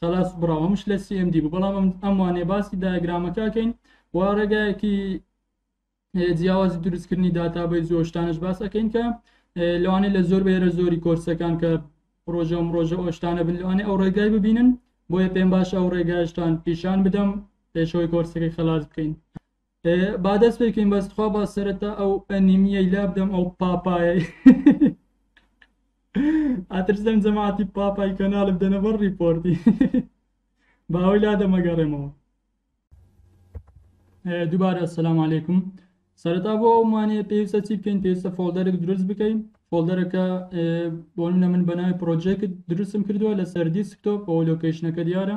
خەڵاس بڕاو ئەمش لە CMD بوو بەڵام ئەم وانێ باسی دایگرامەکە کەین و ڕێگایەکی جیاوازی دروستکردنی داتابەی زۆشتانش باس ئەەکەین کە لەوانەیە لە زۆر بەێرە زۆری کۆرسەکان کە ڕۆژە ئەم ڕۆژە ئۆشتانە بن لەوانێ ئەو ڕێگای ببینن بۆیە پێم باش ئەو ڕێگاشتان پیشان بدەم پێشەوەی کۆرسەکەی خلاص بکەین با دەست پێکەین بەس تخوا با سەرەتا ئەو ئەنیمیەی لابدەم ئەو پاپایە ئاترسدەم جەماعتی پاپای کەناڵ بدەنە بەر ڕیپۆرتی باوەی لا دەمەگەڕێمەوە دووبارە سلام عیکم سەرەتا بۆ ئەومانێ پێویستە چی بکەین پێویستە فۆلدەرێک دروست بکەین فۆلدەرەکە بۆنە من بەناوی پرۆژێکت دروستم کردووە لەسەر دیسکتۆپ بۆ لۆکیشنەکە دیارە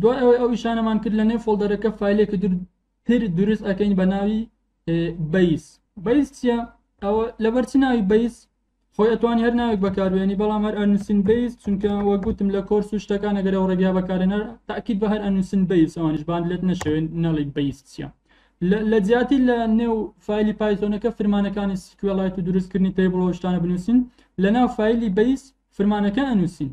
دوای ئەوەی ئەو ئیشانەمان کرد لە نێو فۆڵدەرەکە فایلێکی تر دروست ئەەکەین بە ناوی بەیس بەیس چییە ئەوە لەبەرچی ناوی بەیس خۆی ئەتوانی هەر ناوێک بەکاربیێنی بەڵام هەر ئەنووسین بیس چونکە وە گوتم لە کۆرس و شتەکان ئەگەر ئەو ڕێگا بەکارێنەر تاکیید بە هەر ئەنووسین بیس ئەوانش بان لێت نەشەوێن نەڵی بیس چیە لە جیاتی لە نێو فایلی پایتۆنەکە فرمانەکانی سکوێڵایت و دروستکردنی تەیبڵەوە شتانە بنووسین لە ناو فایلی بیس فرمانەکە ئەنووسین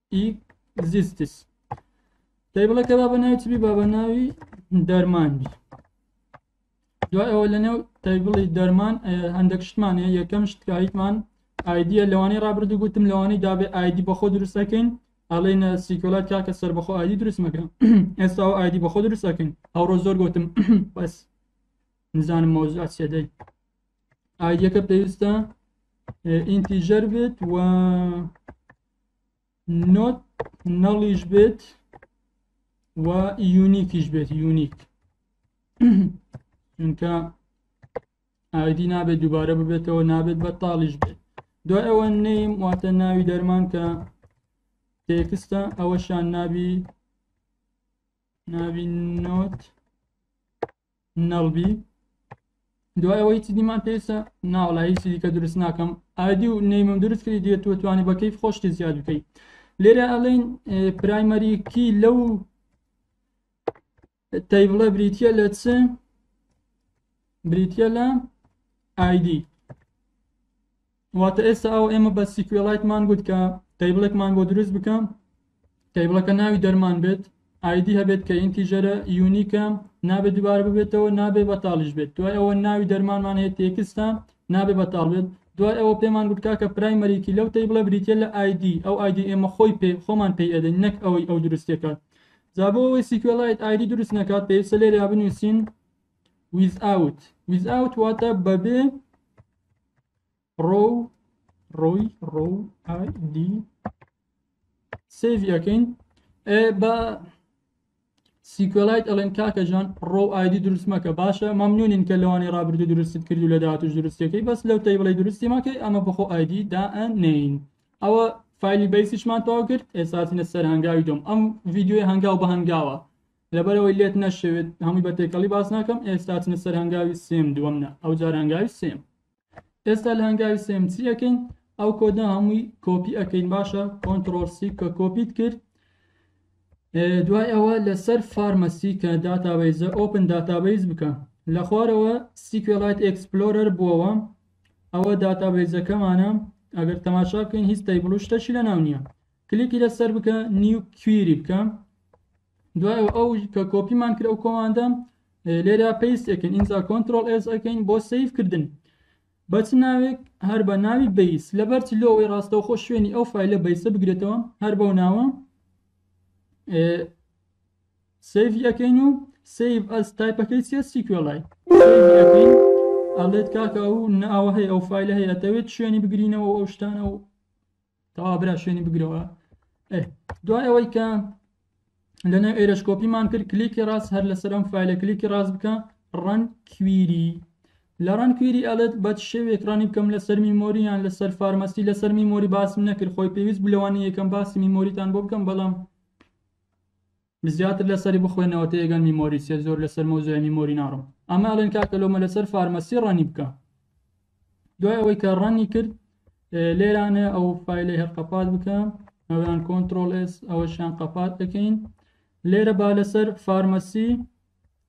ئیکزیستس دەی بڵێ کە بابە ناوی چ بی بابە ناوی دەرمان بی دوای ئەوە لەنێو تەیبڵی دەرمان هەندێک شتمان هەیە یەکەم شتکاریتمان ئایدیە لەوانی ڕابردوو گوتم لەوانی دابێ ئایدی بەخۆ دروستەکەین ئەڵێن سیکۆلات کاکە سەر بەخۆ ئایدی دروست مەکەن ئێستا و ئایدی بەخۆ دروستەکەین ئەوڕۆ زۆر گوتم بەس نزانم مەوزوع سێدەی ئایدیەکە پێویستە ئینتیژەر بێت و نۆت نەڵیش بێت و یونیکیش بێت یونیک چونکە ئایدی نابێت دووبارە ببێتەوە نابێت بە تاڵیش بێت دو ئەوە نیم واتە ناوی دەرمان کە تێکستە ئەوەشان نابی ناوی نۆت نەڵبی دوای ئەوەی چی دیمان پێویستە ناوەڵا هیچی دیکە دروست ناکەم ئایدی و نەیمم دروست کردی دیێت تۆ توانی بە کەیف خۆشتی زیاد بکەیت لێرە ئەڵین پرایمەریکی لەو تەیبڵە بریتە لە چ بریتە لە ئایدی واتە ئێستا ئەوە ئێمە بە سیکوێڵایتمان گوت کە تەیبڵێکمان بۆ دروست بکە تەیبڵەکە ناوی دەرمان بێت ئایدی هەبێت کە ئینتیژەرە یونیکە نابێت دووبارە ببێتەوە نابێ بەتاڵیش بێت دوای ئەوە ناوی دەرمانمان هەیە تێکستە نابێ بەتاڵ بێت دوای ئەوە پێمان گوتکا کە پرایمەریکی لەو تەی بڵە بریتە لە ئایدی ئەو ئایدی ئێمە خۆی پێ خۆمان پێی ئەدەین نەک ئەوەی ئەو دروستەکە زابەوەی سیکوێڵایت ئایدی دروست نەکات پێویستە لێریا بنووسین ویز ئاوت ویز ئاوت واتە بەبێ ڕۆ ڕۆی ڕۆ دی سێڤەکەین بە سیکۆلایت ئەڵێن کاکەژان ڕۆ ئایدی دروست مەکە باشە مەمنونین کە لەوانی ڕابردو دروست کرد و لە داهاتوش دروستەکەی بەس لەو تەیبڵی دروستی ماکەی ئەمە بەخۆ ئایدی دائەنین ئەوە فایلی بەیسیشمان تەوا کرد ئێساسینە سەر هەنگاوی دۆم ئەم ڤیددیوی هەنگاو بە هەنگاوە لەبەرەوەی لێت نەشێوێت هەمووی بە تێکەڵی باس ناکەم ئێستا چنە سەر هەنگاوی سێم دووەم نە ئەو جار هەنگاوی سێم ئێستا لە هەنگاوی سێم چی ئەەکەین ئەو کۆدە هەمووی کۆپی ئەەکەین باشە کۆنتترۆل سی کە کۆپیت کرد دوای ئەوە لەسەر فارمەسی کە داتابیزە ئۆپن داتابیز بکە لە خوارەوە سیکوێڵایت ئەکسپلۆرەر بووەوە ئەوە داتابیزەکەمانە ئەگەر تەماشا بکەین هیچ تەیبڵ و شتەشی لە ناو نییە کلیکی لەسەر بکە نیو کویری بکە دوای ئەو کە کۆپیمان کرد ئەو کۆماندە لێرا پێست ئەکەین ئینجا کۆنتترۆل ئێز ئەەکەین بۆ سیف کردن بەچ ناوێک هەر بە ناوی بیس لەبەر لۆی ڕاستەوخۆ شوێنی ئەو فیلە بیسە بگرێتەوە هەر بەو ناوە سیڤی ئەەکەین و سیف ئەس تایپەکەی سێ سیکوێڵای سیڤی ئەەکەین ئەڵێت کاکە و ناوە هەیە ئەو فیلە هەیە دەوێت شوێنی بگرینەوە ئەو شتانە و تەواو برا شوێنی بگرەوە دوای ئەوەی کە لەنێو ئێرشکۆپیمان کرد کلیکی ڕاست هەر لەسەر ئەم فیلە کلیکی ڕاست بکە ڕەن کویری لە ڕەن کویری ئەلێت بە شێوێک ڕانی بکەم لەسەر میمۆریان لەسەر فارمەسی لەسەر میمۆری باسم نەکرد خۆی پێویست بلەوانی یەکەم باسی میمۆریتان بۆ بکەم بەڵام زیاتر لەسەری بخوێنەوە تێگەن میمۆری سێ زۆر لەسەر مەوزوعی میمۆری ناڕۆم ئەمە ئەڵێن کاکە لۆمە لەسەر فارمەسی ڕەنی بکە دوای ئەوەی کە ڕەنی کرد لێرانە ئەو فیلەی هەر قەپات بکە ئەویان کۆنتترۆل ئێس ئەوەشیان قەپات دەکەین لێرە با لەسەر فارمەسی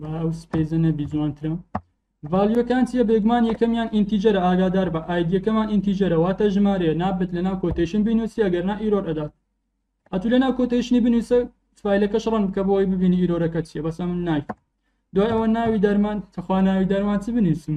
با ئەو سپێزە نەبی جوانترە ڤالیۆکان چیە بێگومان یەکەمیان ئینتیجەرە ئاگادار بە ئایدیەکەمان ئینتیجەرە واتە ژمارەیە نابێت لەناو کۆتێشن بینوسی ئەگەرنا ئیرۆر ئەدات ئەتو لەناو کۆتێشنی بنووسە فیلەکەش ڕەن بکە بۆی ببینی ئیرۆرەکە چیە بەسە من نایف دوای ئەوە ناوی دەرمان تەخوا ناوی دەرمان چ بنووسم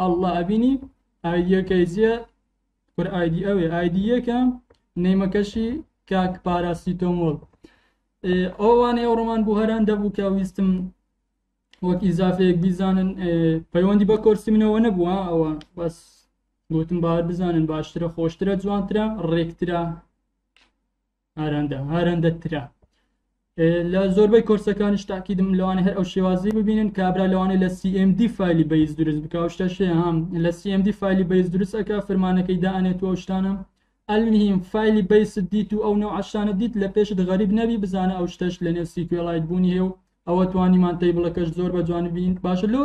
ئەڵا ئەبینی ئایدیەکەی جیە کورە ئایدی ئەوێ ئایدی یەکە نەیمەکەشی کاک پاراسیتۆمۆل ئەوانەی ئەو ڕۆمان بوو هەران دەبوو کە ویستم وەک ئیزافەیەک بیزانن پەیوەندی بە کۆرسی منەوە نەبووە ئەوە بەس گوتم باوە بزانن باشترە خۆشترە جوانترە ڕێکترە هارەندە هارەندە ترە لە زۆربەی کۆرسەکانش تاکیدم لەوانە هەر ئەو شێوازی ببینن کابرا لەوانەیە لە CMD فایلی بەیز دروست بکوشتە شێ هەم لە CMD فایلی بەیز دروستەکە فرمانەکەی دانێت و شتانە ئەلمیم فایلی بەیس دیت و ئەو نەو عشتانە دیت لە پێشت غەریب نەبی بزانە ئەو شتەش لە نێو سیکوێڵایت بوونی هێ و ئەوە توانیمان تەیبڵەکەش زۆر بە جوان بین باشە لۆ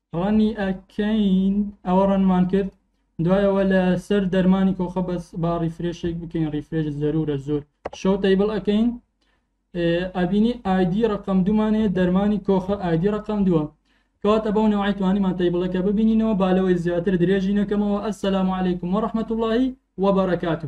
ڕەنی ئەکەین ئەوە ڕەنمان کرد دوایەوە لە سەر دەرمانی کۆخە بەس با ڕیفرێشێک بکەین ڕیفرێش زەرورە زۆر شەو تەیبڵ ئەەکەین ئەبینی ئایدی ڕقم دومانەیە دەرمانی کۆخە ئایدی ڕقم دووە کەواتە بەو نەوەی توانیمان تەیبڵەکە ببینینەوە بالەوەی زیاتر درێژی نەکەمەوە ئەسەلام عیکم و ڕحمەت وڵی وبرکاته